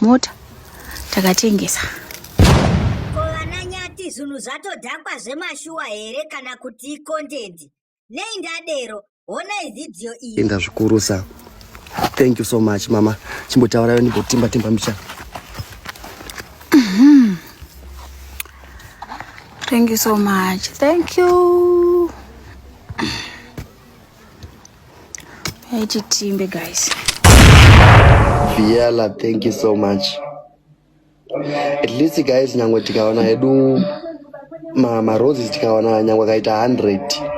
mota takatengesa kovananyati zvinhu zvatodhakwa zvemashuwa here kana kuti ikontenti nei ndadero honai vhidhiyo iyi tenda zvikurusa thank you so much mama chimbotaurayo ndimbotimba timba micha mhm. thank you so much thank you Yaiti timbe guys. Viela, thank you so much. At least guys nyangwe tikaona hedu ma, ma roses tikaona nyangwe akaita 100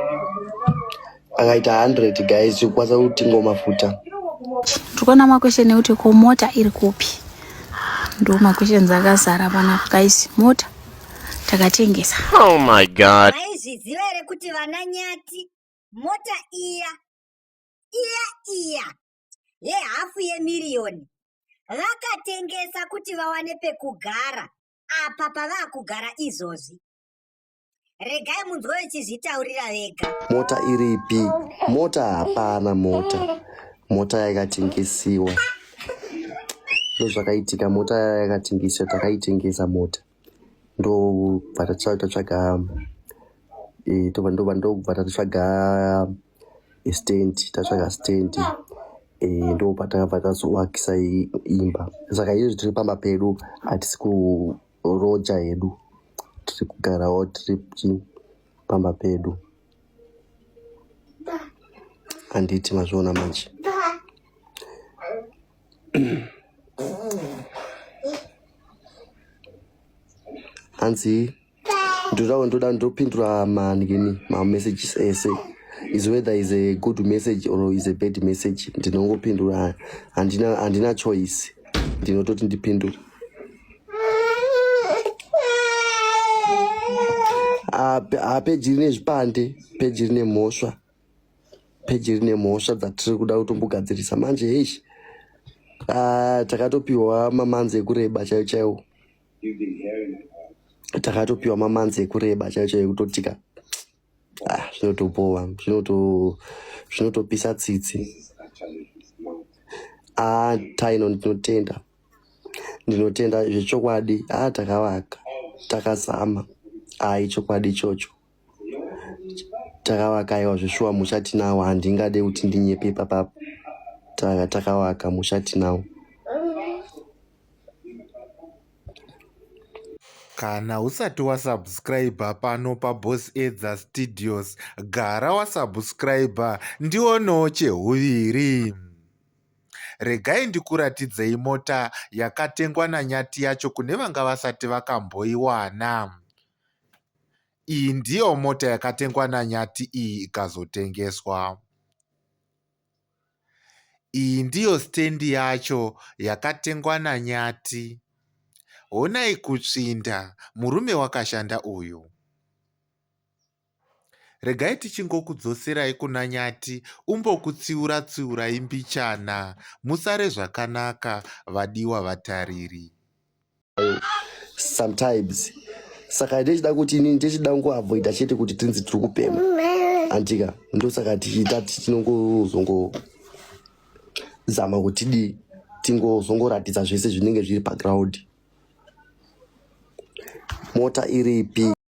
akaita 100 guys tikukwanisa kutingo mafuta tikuona makwesheni ekuti ko mota iri kupi ndo makwesheni akazara panapa guys mota takatengesa oh my god maizviziva here kuti vana nyati mota iya iya iya yehafu yemiriyoni vakatengesa kuti vawane pekugara apa pavaa kugara izvozvi regai munzwa vechizvitaurira vega mota iripi mota hapana mota mota yakatengesiwa ndozvakaitika mota yakatengesiwa takaitengesa mota ndobva tatsvaga eh, tobva ndobva ndobva tatsvaga stand tatsvaga stand eh, ndobva takabva tazoakisa imba saka izvi tiri pamba pedu hatisi kuroja hedu tiri kugarawo tiri pamba pedu handiti mazviona manje hanzi ndoda ndoda ndopindura manini mamessages ese is whether is a good message or is a bad message ndinongopindura handina handina choice ndinototi ndipindure ah, ah, peji rine zvipande peji rine mhosva peji rine mhosva dzatiri kuda kutombogadzirisa manje heish ah, takatopiwa mamanzi ekureba chaiwo chaiwo takatopiwa mamanzi ekureba chaiwo chaiwo ekutotika ah, zvinotobowa zvinotopisa tsitsi ah, taino ndinotenda ndinotenda zvechokwadi ah, takavaka takazama ah, ichokwadi ichocho takavaka aiwa zveshuwa musha tinawo handingade kuti ndinyepe papapo taka takavaka musha tinawo kana usati wasubscribe pano pabos edza studios gara wasubscribe ndionewo chehuviri regai ndikuratidzei mota yakatengwa nanyati yacho kune vanga vasati vakamboiwana Iyi ndiyo mota yakatengwa naNyathi iyi ikazotengeswa. Iyi ndiyo stand yacho yakatengwa naNyathi. Honai kutsvinda murume wakashanda uyu. Regai tichingokudzoserai kuna Nyati umbokutsiura tsiurai mbichana. Musare zvakanaka vadiwa vatariri. Sometimes saka ndechida kuti inini ndechida kungoavoida chete kuti tinzi tiri kupemha antika ndosaka tichiita tichinongozongo zama kuti dii tingozongoratidza zvese zvinenge zviri paground mota iripi